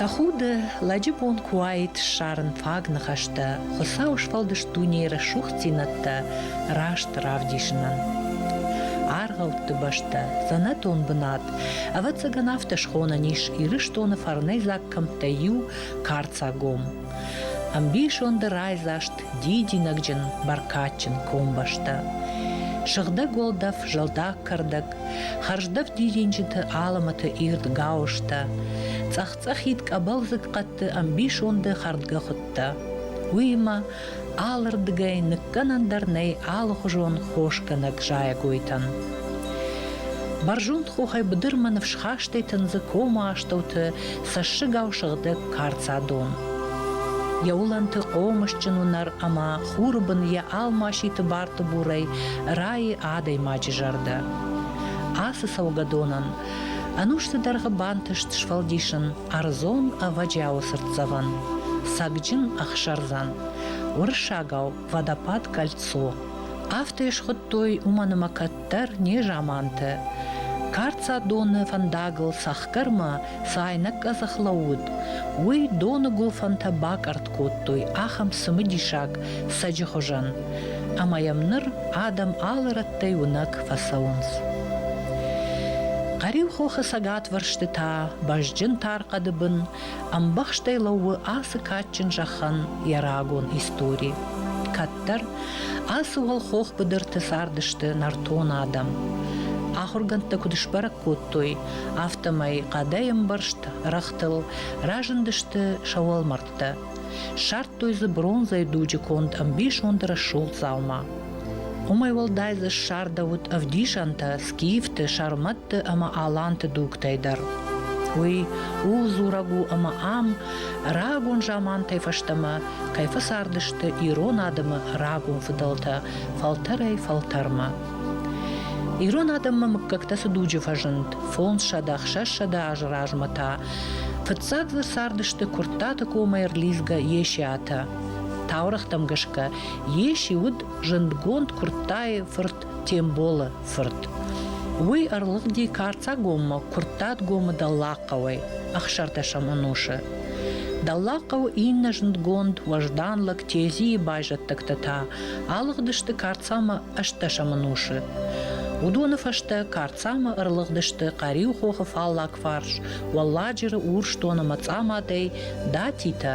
Тӕхуды, лӕджы бон куы уаид ссарын фаг ныхӕстӕ, Хуыцауы сфӕлдыст дунейы рӕсугъддзинӕдтӕ раст равдисынӕн. Аргъӕутты бӕстӕ, дзӕнӕтон бынат, ӕвӕццӕгӕн афтӕ схонӕн ис Ирыстоны фарнӕйдзаг кӕмттӕй иу – карцагом. Ӕмбисонды райдзаст дидинӕгджын, бӕркадджын комбӕстӕ. Сыгъдӕг уӕлдӕф, зӕлдаг кӕрдӕг, хӕрздӕф дидинджыты алымыты ирд гауызтӕ, цъӕх-цъӕхид къӕбӕлдзыг хъӕдты ӕмбисонды хӕрдгӕхуыдтӕ. Уыимӕ алырдыгӕй ныккӕнӕн дӕр нӕй алыхуызон хосгӕнӕг зайӕгойтӕн. Бӕрзонд хохӕй быдырмӕ ныфсхастӕй тындзы комы астӕуты цӕссыгау сыгъдӕг карцадон. Йӕ уылӕнты хъомысджын уынӕр ӕмӕ хуры бын йӕ алмаситы бартыбурӕй райы адӕймаджы зӕрдӕ. Ацы цӕугӕдонӕн ӕнусты дӕргъы бантыст сфӕлдисын ӕрдзон ӕвӕджиауы цыртдзӕвӕн Сӕгджын ӕхсӕрдзӕн, уырыссагау Водопад кольцо. Афтӕ схуыдтой уымӕн ӕмӕ кӕд дӕр незамантӕ. Карцадоны фӕндагыл цӕхгӕрмӕ цы айнӕг къӕдзӕх лӕууыд, уый доны гуылфӕнтӕ бакъӕртт кодтой ахӕм цымыдисаг сӕджы хуызӕн, ӕмӕ йӕм ныр адӕм алы рӕттӕй уынӕг фӕцӕуынц. Хъӕриу хохы цӕгатвӕрсты та бӕзджын тар хъӕды бын Ӕмбӕхстӕй лӕууы ацы кадджын зӕххӕн йӕ рагон истори. Кӕддӕр ацы уӕлхох быдырты цардысты нӕртон адӕм. Ахуыргӕндтӕ куыд сбӕрӕг кодтой, афтӕмӕй хъӕдӕй ӕмбӕрзт рӕгътыл разындысты сӕ уӕлмӕрдтӕ. Ссардтой дзы бронзӕйы дуджы конд ӕмбисонды рӕсугъд дзаума. Уымӕй уӕлдай дзы ссардӕуыд ӕвдисӕнтӕ скифты, сӕрмӕтты ӕмӕ аланты дугтӕй дӕр. Уый ууыл дзурӕг у, ӕмӕ ам рагон замантӕй фӕстӕмӕ кӕй фӕцардысты ирон адӕмы рагон фыдӕлтӕ фӕлтӕрӕй-фӕлтӕрмӕ. Ирон адӕммӕ мыггӕгтӕ цы дуджы фӕзынд, фондзсӕдӕ, хсӕзсӕдӕ азы размӕ та фыццаг дзы цардысты Куырттаты комӕй ӕрлидзгӕ Есиатӕ. Таурӕгътӕм гӕсгӕ Йе си уыд зындгонд Куырттайы фырт Темболы фырт. Уый ӕрлыгъди Карцагоммӕ Куырттатгомы дӕллагхъӕуӕй, ӕхсӕрдӕсӕм ӕнусы. Дӕллагхъӕуы иннӕ зындгонд уӕздан лӕг Тезийы байзӕддӕгтӕ та алыгъдысты Карцамӕ ӕстдӕсӕм ӕнусы. Уыдоны фӕстӕ Карцамӕ ӕрлыгъдысты Хъӕриу хохы фаллаг фарс, Уӕлладжыры Урсдоны мӕцъамадӕй, Датитӕ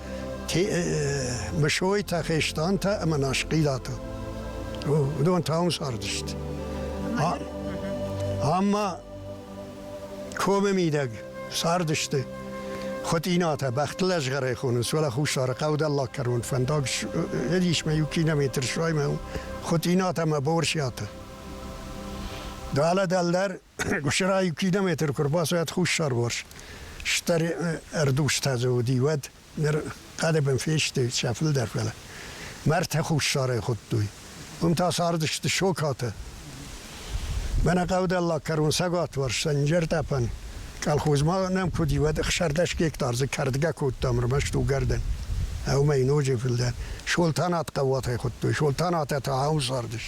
Мысойтӕ, Хестантӕ ӕмӕ Насхъилатӕ. Уыдон та уым цардысты. Ӕмӕ комы мидӕг цардысты Хотъинатӕ бӕхтылӕзгъӕрӕй хонынц, уӕлӕ Хуссары хъӕуделлаг кӕрон фӕндаг ӕдис мӕ иу километр суаймӕ Хотъинатӕ ӕмӕ Борсиатӕ. Далӕ дӕлдӕр Гуырысӕрайы километр куы рбацӕйӕд хуссарварс стыр ӕрдузтӕ дзы уыди, уӕд ныр хъӕдыбын фесты сӕ фылдӕр, фӕлӕ мӕрдтӕ хуссарӕй хуыдтой. Уым та цардысты сокатӕ. Мӕнӕ хъӕуделлаг кӕрон цӕгатварс Сӕнджертӕпӕн колхозмӕ нӕм куы уыди, уӕд ӕхсӕрдӕс гектар дзы кӕрдгӕ кодтам ӕрмӕст уыгӕрдӕн. Ӕумӕ ноджы фылдӕр Солтанат хъӕуатӕй хуыдтой. Солтанатӕ та ау цардыс?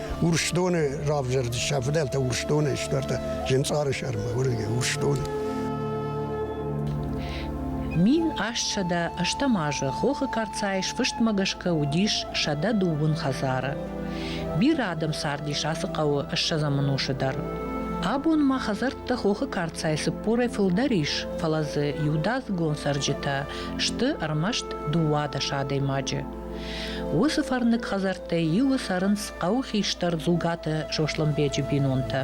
Урсдоны равзӕрд сӕ фыдӕлтӕ Урсдонӕй сдӕрта Зынцъары сӕрмӕ, уырдыгӕй Урсдоны. Мин астсӕдӕ ӕстӕм азы Хохы Карцайы сфыстмӕ гӕсгӕ уыдис сӕдӕ дыууын хӕдзары. Бирӕ адӕм цардис ацы хъӕуы ссӕдзӕм ӕнусы дӕр. Абон ма хӕдзӕрттӕ Хохы Карцайы цыппорӕй фылдӕр ис, фӕлӕ дзы иудадзыгон цӕрджытӕ сты ӕрмӕст дыууадӕс адӕймаджы. Уыцы фӕрныг хӕдзӕрттӕй иуы цӕрынц хъӕуы хистӕр Дзугаты Сослӕнбеджы бинонтӕ.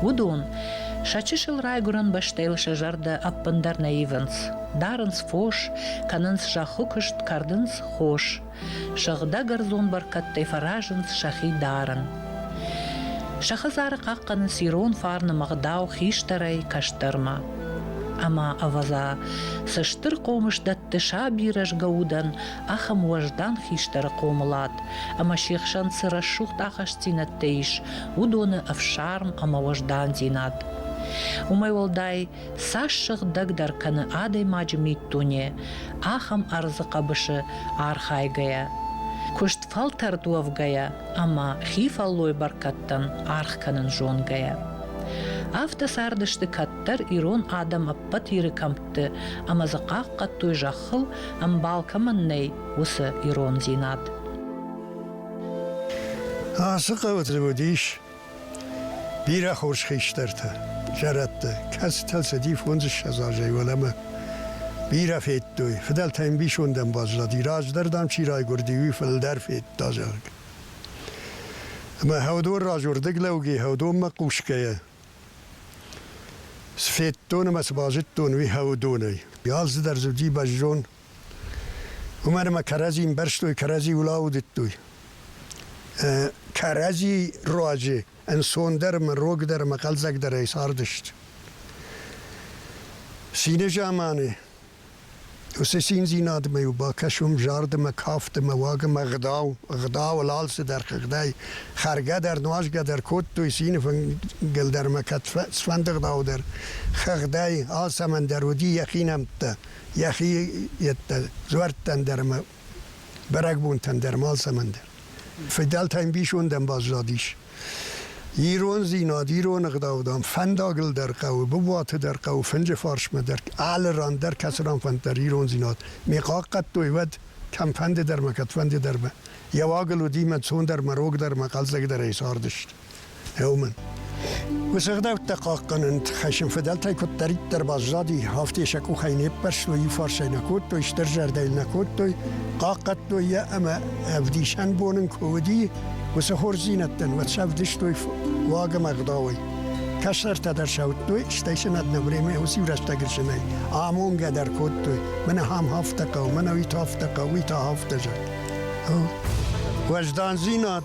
Уыдон сӕ чысыл райгуырӕн бӕстӕйыл сӕ зӕрдӕ ӕппындӕр нӕ ивынц. Дарынц фос, кӕнынц зӕххы куыст, кӕрдынц хос. Сыгъдӕг ӕрдзон бӕркӕдтӕй фӕразынц сӕхи дарын. Сӕ хӕдзары хъахъхъӕнынц ирон фарны мӕгъдау хистӕрӕй кӕстӕрмӕ. Ӕмӕ ӕвӕдза, цы стыр хъомыс дӕтты саби рӕзгӕ удӕн, ахӕм уӕздан хистӕры хъомылад, ӕмӕ се хсӕн цы рӕсугъд ахастдзинӕдтӕ ис, уыдоны ӕфсарм ӕмӕ уӕздандзинад. Уымӕй уӕлдай, цас сыгъдӕгдӕр кӕны адӕймаджы миддуне, ахӕм ӕрдзы хъӕбысы архайгӕйӕ, куыст фӕлтӕрд уӕвгӕйӕ ӕмӕ хи фӕллой бӕркӕдтӕн аргъ кӕнын зонгӕйӕ. Афтӕ цардысты кӕддӕр ирон адӕм ӕппӕт Иры кӕмтты ӕмӕ дзы хъахъхъӕдтой зӕххыл, ӕмбал кӕмӕн нӕй, уыцы ирондзинад. Ацы хъӕуы тревод ис Бирӕ хорз хистӕртӕ, зӕрӕдтӕ, кӕцытӕ цыди фондзыссӕдз азӕй уӕлӕмӕ, бирӕ федтой, фыдӕлтӕ ӕмбисонд ӕмбӕрзади, раздӕр, дам, чи райгуырди, уый фылдӕр федта, зӕгъгӕ. Ӕмӕ Хӕудон раз уырдыг лӕуги Хӕудонмӕ хъусгӕйӕ, цы федтон ӕмӕ цы базыдтон, уый Хӕудонӕй. Галдзы дӕр зыди бӕззон, Умӕр ӕма кӕрӕдзи имбӕрзтой, кӕрӕдзи улаудӕдтуй. Кӕрӕдзи руази ӕнцондӕр ӕма рогдӕр ӕма хъӕлдзӕгдӕрӕй цардӕст. Цины замани уыцы циндзинадмӕ-иу бакӕсӕм зардымӕ, кафтымӕ, уагымӕ, ӕгъдау, ӕгъдауыл алцыдӕр, хыгъдӕй. Хӕргӕ дӕр, нуазгӕ дӕр кодтой цины фынгыл дӕр ӕмӕ кӕд цыфӕнды ӕгъдау дӕр, хыгъдӕй, алцӕмӕн дӕр уыди йӕхи нӕмттӕ. йӕхи йедтӕ дзуӕрттӕн дӕр ӕмӕ бӕрӕгбонтӕн дӕр малцӕмӕн дӕр. Фыдӕлтӕ ӕмбисондӕн баззадис. Ирондзинад, ирон ӕгъдаудам фӕндагыл дӕр хъӕуы, Бубуаты дӕр хъӕуы, фынджы фарсмӕ дӕр, алы ран дӕр кӕцыран фӕнд дӕр ирондзинад ме хъахъхъӕдтой, уӕд кӕмфӕнды дӕр ма кӕдфӕнды дӕр ба. Йӕ уагыл уыди мӕ цондӕр мӕ рогдӕр мӕ хъӕлдзӕгдӕрӕй цардысты. Еумӕн. Усыгъдӕуттӕ хъахъхъӕнӕн хӕссын фыдӕлтӕй куыддӕриддӕр баззади, афтӕ сӕ къухӕй не ппӕрстой, иу фарсӕй нӕ кодтой, стыр зӕрдӕйыл нӕ кодтой, хъахъхъӕдтой йӕ ӕмӕ ӕвдисӕн бон ын куы уыди, уыцы хорздзинӕдтӕн уӕд сӕвдыстой уаг ӕмӕ ӕгъдауӕй. Кӕсӕртӕ дӕр сӕуттой, стӕй сын ӕд нӕ времӕ уыцы рӕстӕг ысынӕй амонгӕ дӕр кодтой. Мӕнӕ ам афтӕ хъӕу, мӕнӕ уый та афтӕ хъӕу, уый та афтӕ зӕгъ. Уӕздандзинад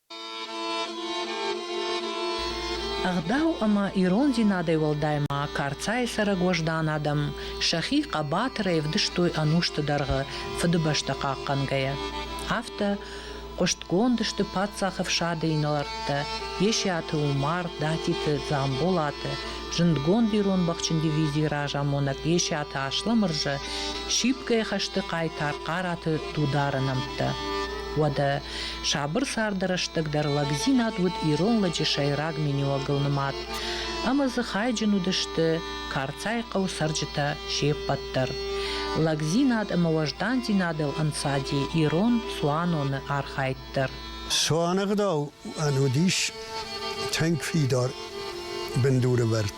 Ӕгъдау ӕмӕ ирондзинадӕй уӕлдай ма Карцайы цӕрӕг уӕздан адӕм сӕхи хъӕбатырӕй ӕвдыстой ӕнусты дӕргъы Фыдыбӕстӕ хъахъхъӕнгӕйӕ. Афтӕ хъуыстгонд сты паддзахы фсады инӕлӕрттӕ Есиаты Умар, Датиты Дзамболаты, зындгонд ирон бӕхджын дивизийы разамонӕг Есиаты Асламырзӕ, сипгай хӕсты хъайтар Хъараты Дудары нӕмттӕ. Уӕдӕ Сабыр царды рӕстӕг дӕр лӕгдзинад уыд ирон лӕджы сӕйраг миниуӕгыл нымад. Ӕмӕ дзы хайджын уыдысты Карцайы хъӕу цӕрджытӕ се ппӕт дӕр. Лӕгдзинад ӕмӕ уӕздандзинадыл ӕнцади ирон цуаноны архайд дӕр. Цуанӕгъдау ын уыдис тынг фидар бындурывӕрд.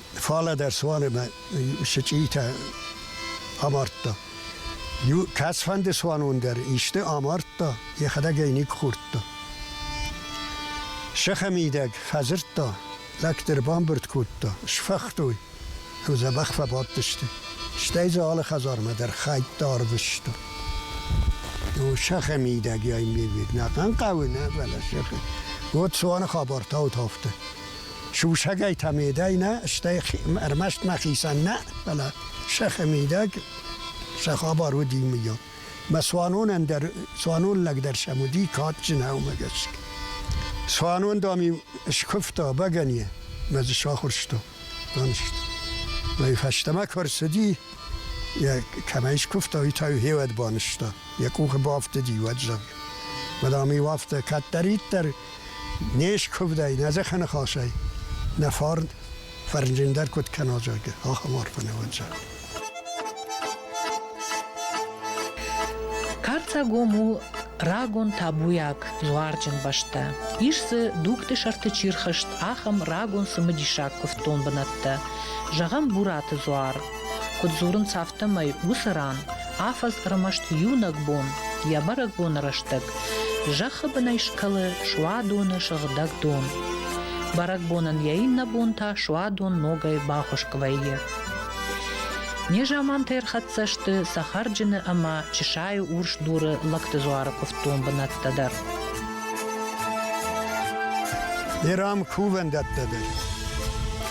Фӕлӕ дӕр суанемӕ сычъитӕ амардта. Иу кӕцфӕнды цуанон дӕр исты амардта, йӕхӕдӕг ӕй никхордта. Сӕхӕ мидӕг фӕдзырдта, лӕгты ӕрбамбырд кодта, сфӕхтой, ӕмӕ дзӕбӕх фӕбадтысты. Стӕй дзы алы хӕдзармӕ дӕр хӕйттӕ арвыста. О, сӕхӕ мидӕг йӕ ме вид нӕ хъан хъӕуы, нӕ, фӕлӕ сӕхӕ. Уӕд цуаны хабар таут афтӕ. Сусӕгӕй та медӕй нӕ, стӕй ӕрмӕст мӕхицӕн нӕ, фӕлӕ сӕхи мидӕг сӕ хабар уыди мийон. Мӕ цуанонӕн дӕр, цуанон лӕг дӕр сӕм уыди кадджынаумӕ гӕсгӕ. Цуанон, дам, скуывта бӕгӕныйӕ, мӕ дзы сахуырста. Уый фӕстӕмӕ куы рцыди, йӕ кӕмӕй скуывта, уый та хевӕд банызта. Йӕ къухы бафтыди, уӕд зӕгъ. Мадам, иу афтӕ кӕддӕриддӕр Не скуывдӕй, нӕ зӕххӕ ныхасӕй, нӕ фарн фӕрнджындӕр куыд кӕна, зӕгъгӕ, ахӕм арф ӕнӕвӕнцӕ. Карцагом у рагон табуйаг дзуарджын бӕстӕ. Ис дзы дугты сӕрты чирхызт ахӕм рагон цымыдисаг куывддон бынӕттӕ. Зӕгъӕм, Бураты дзуар, Куыд дзурынц афтӕмӕй, уыцы ран афӕдз ӕрмӕст иунӕг бон, йӕ бӕрӕгбоны рӕстӕг, зӕххы бынӕй скӕлы суадоны сыгъдӕг дон. Бӕрӕгбонӕн йӕ иннӕ бон та суадон ногӕй бахуыс куы вӕййы. Незамантӕ ӕрхӕццӕ сты цӕхӕрджыны ӕмӕ чысайы урс дуры лӕгты дзуары куывддон бынӕттӕ дӕр. Ирам кувӕндӕттӕ дӕр.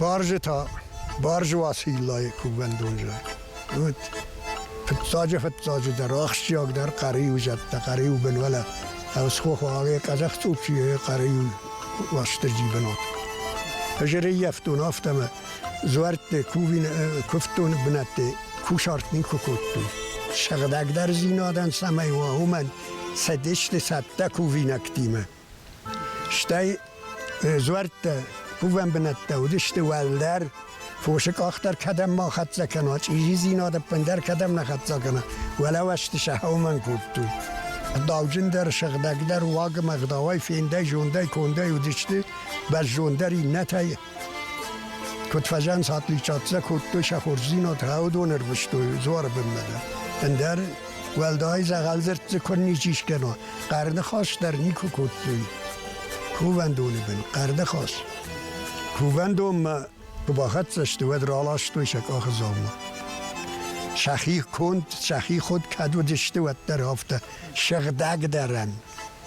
Баржы та Баржы Уациллайы кувӕндон зӕй. Уыд фыццаджы-фыццаджыдӕр ахсджиагдӕр хъӕриу зӕдтӕ, хъӕриу бынвӕлӕ. Ӕсхох уағе Казахстучие хъӕриу Уастырджи бынот. Жреййӕфтон афтӕмӕ зуӕртты кувины куывдтоны бынӕтты кусарт нин кодтой. Сыгъдӕгдӕр зинадӕн самай уа, уымӕн цӕдесты цӕттӕ кувинӕгтимӕ. Стӕй дзуӕрттӕ, кувӕн бынӕттӕ уыдысты уӕлдӕр, фосы къах дӕр кӕдӕм ма хӕццӕ кӕна, чъизидзинад ӕппындӕр кӕдӕм нӕ хӕццӕ кӕна, уӕлӕвӕсты сӕ хъӕумӕ кодтой. Дауджындӕр, сыгъдӕгдӕр, уагмӕгъдауӕй, фендӕй, зондӕй, кондӕй уыдысты, бӕззонддӕр иннӕтӕй Куд фӕзӕнс атликчатдзӕ кодтой сӕ хорздзийнад гьӕудон ӕрвустой дзуары бунмӕ дӕр. Ӕндӕр уӕлдай дзӕгъӕлдзӕртдзы кун ничи скӕна, хъӕрныхас дӕр нику кодтой. Кувӕндони бин, хъӕрныхас. Кувӕндонмӕ куы бахӕццӕ сты, уӕд раластой сӕ къахзаумӕ. Сӕхи конд, сӕхи худ кӕд уыдысты, уӕддӕр афтӕ сыгъдӕгдӕрӕн,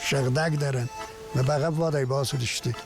сыгъдӕгдӕрӕн. Мӕ бӕгъӕввадӕй бацыдысты,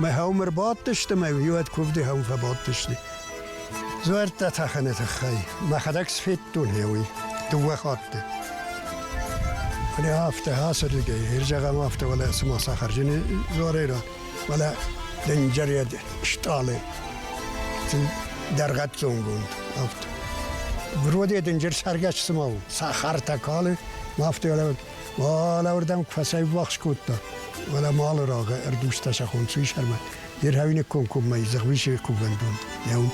Мӕ хаум ӕрбадтысты, мӕ иуӕд куывды хаум фӕбадтысты. Дзуӕрттӕ тӕхӕны тыххӕй. Мӕхӕдӕг сфедтон уый дыууӕ хатты. Фӕлӕ афтӕ ацырдыгӕй, ир зӕгъӕм афтӕ, уӕлӕ цыма сахарджыны дзуарӕй рад, уӕлӕ дынджыред стъалы дӕргъӕццонгонд афтӕ. Вроде дынджыр цӕргӕс цыма у, сахартӕ калы, афтӕ уӕлӕ Алаурдӕм куы фӕцӕйввахс кодта, уӕлӕ малы рагъы ӕрдузтӕ сӕхон суисӕрмӕ, дер хауинек комкоммӕ изгъвисе кувӕндон еун.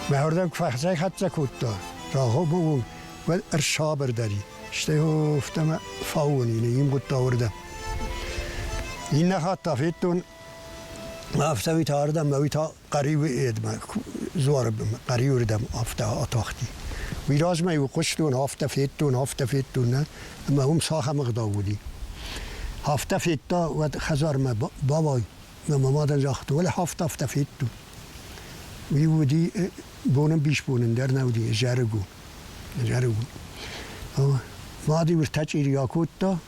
Мӕ ордӕм куы фӕхӕцӕй-хӕццӕ кодта, рагъомӕ уон уӕд ӕрсабырдари, стӕй офтӕмӕ фауони, ин гъудта ордӕ. Иннӕ хатт та федтон, афтӕ уи та ардӕм, мӕ уи та Хъӕриуы едмӕ, дзуары бынмӕ, хъӕриуы рдӕм афтӕ атахти. Уый размӕ-иу хъуыстон, афтӕ федтон, афтӕ федтон, нӕ? ӕмӕ уым цахӕм ӕгъдау уыди. Афтӕ федта, уӕд хӕдзармӕ бауай, мӕ мам адӕм загъта, уӕле афтӕ, афтӕ федтон. Уый уыди бонӕмбисбонӕн дӕр нӕ уыди зӕрыгон. Зӕрыгон. Мад-иу ӕртӕчъири акодта,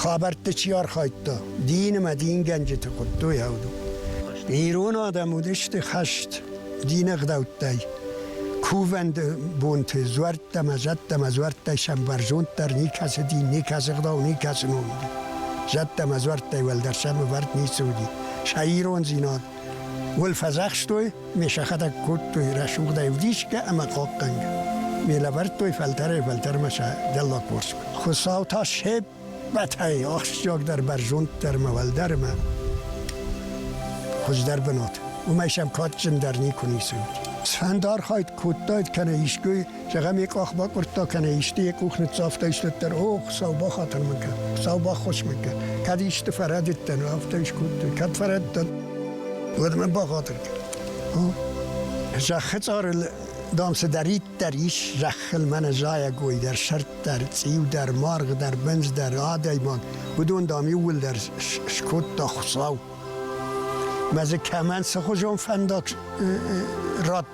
Хабӕртты чи архайдта, динымӕ дингӕнджыты хуыдтой аудон. Ирон адӕм уыдысты хӕст, динӕгъдӕуттӕй. Кувӕнды бонты дзуӕрттӕ мӕ зӕдтӕ мӕ дзуӕрттӕй сӕм бӕрзонддӕр никӕцы дин, никӕцы гъдау, никӕцы ном уыди. Зӕдтӕ мӕ дзуӕрттӕй уӕлдӕр сӕм ӕвӕрд ницы уыди. Сӕ ирондзинад Уӕл фӕзахстой, ме сӕхӕдӕг кодтой рӕсугъдӕй вдисгӕ ӕма хъохъгӕнгӕ. Ме лӕвӕрдтой фӕлтӕрӕй-фӕлтӕрмӕ сӕ дӕллагпорск. Хуцау та се ппӕтӕй ахсджиагдӕр бӕрзонддӕрмӕ, уӕлдӕрмӕ хуӕздӕр бынат. Уымӕй сӕм кадджындӕр никуы ницы уыд. Сфӕнды архайд кодтаид кӕнӕ искуы Зӕгъӕм, йӕ къах бакъуырдта кӕнӕ исты йӕ къух ныццавта, истыддӕр, о, Хуыцау бахатыр мын кӕн, Хуыцау баххуыс мын кӕн. Кӕд исты фӕрӕдыдтӕн, афтӕ скодтон, кӕд фӕрӕдтӕн, уӕд мын бахатыр кӕн. Зӕххы цъарыл, дам, цыдӕриддӕр ис зӕххыл мӕнӕ зайӕгой дӕр, сӕрддӕр, цъиудӕр, маргъдӕр, бындздӕр, адӕймаг, уыдон, дам, иууылдӕр скодта Хуыцау. Мӕ дзы кӕмӕн цыхуызон фӕндаг радта,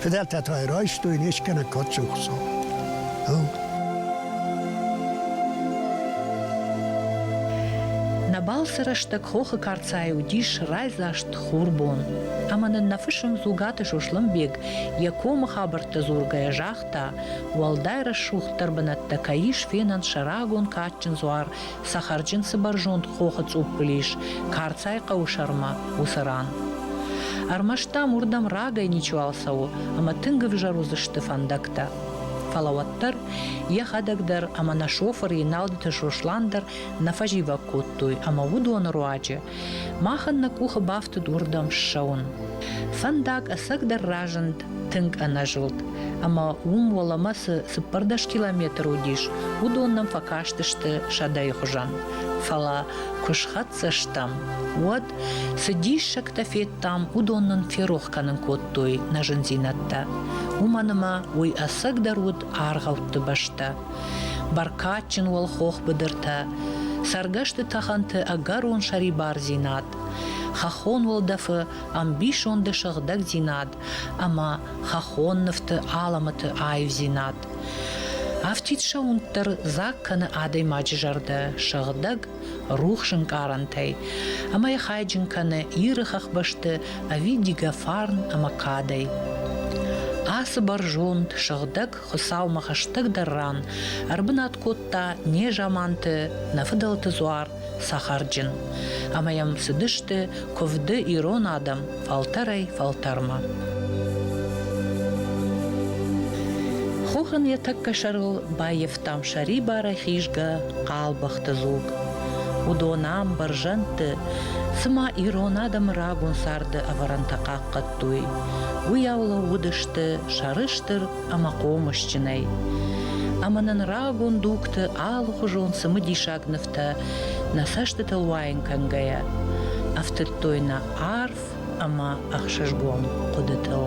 Фыдӕлтӕ та райстой не скӕнӕг кадсухсо. Нӕбал сӕ рӕстӕг хохы карцайы уыдис райдзаст хурбон. Ӕмӕ нын нӕ фысым Дзугаты Сослӕнбег йӕ комы хабӕрттӕ дзургӕйӕ загъта, уӕлдай рӕсугъддӕр бынӕттӕ кӕй ис фенӕн сӕ рагон кадджын дзуар Цӕхӕрджын цы бӕрзонд хохы цъуппыл ис, Карцай хъӕуы сӕрмӕ, уыцы ран. Ӕрмӕст, дам, уырдӕм рагӕй ничуал цӕуы ӕмӕ тынг ӕвзӕр уыдзысты фӕндӕгтӕ. Фӕлӕ уӕддӕр йӕхӕдӕг дӕр ӕмӕ нӕ шофыр Еналдыты Сослан дӕр нӕ фӕзивӕг кодтой ӕмӕ уыдоны руаджы мах ын нӕ къухы бафтыд уырдӕм ссӕуын. Фӕндаг ӕцӕгдӕр разынд тынг ӕнӕзылд. Ӕмӕ уым уӕлӕмӕ цы цыппӕрдӕс километр уыдис, уыдон нӕм фӕкастысты сӕдӕйы хуызӕн. Фӕлӕ куы схӕццӕ стӕм, уӕд цы диссӕгтӕ федтам, уыдон нын ферох кӕнын кодтой нӕ зындзинӕдтӕ. Уымӕн ӕмӕ уый ӕцӕгдӕр уыд аргъӕутты бӕстӕ. Бӕркадджын уӕл хох быдыртӕ, цӕргӕсты тӕхӕнты ӕгӕрон сӕрибардзинад, хӕххон уӕлдӕфы ӕмбисонды сыгъдӕгдзинад ӕмӕ хӕххон нывты алӕмӕты аивдзинад. Афтид сӕуынд дӕр дзаг кӕны адӕймаджы зӕрдӕ сыгъдӕг, рухс ӕнкъарӕнтӕй ӕмӕ йӕ хайджын кӕны Иры хӕхбӕсты ӕви дигофарн ӕмӕ кадӕй. Ацы бӕрзонд, сыгъдӕг Хуыцаумӕ хӕстӕгдӕр ран ӕрбынат кодта незаманты нӕ фыдӕлты дзуар сахарджын, ӕмӕ йӕм цыдысты куывды ирон адӕм фӕлтӕрӕй-фӕлтӕрмӕ. Хохын йӕ тӕккӕ сӕрыл баййӕфтам сӕрибары хизгӕ хъалбӕхты дзуг. Уыдон ам, бӕрзӕндты, цыма ирон адӕмы рагон царды ӕвӕрӕнтӕ хъахъхъӕд кодтой. Уыйау лӕууыдысты сӕрыстыр ӕмӕ хъомысджынӕй. Ӕмӕ нын рагон дугты алыхуызон цымыдисаг нывтӕ, нӕ цӕстытыл уайын кӕнгӕйӕ, ӕфтыдтой нӕ арф ӕмӕ ӕхсызгон хъуыдытыл.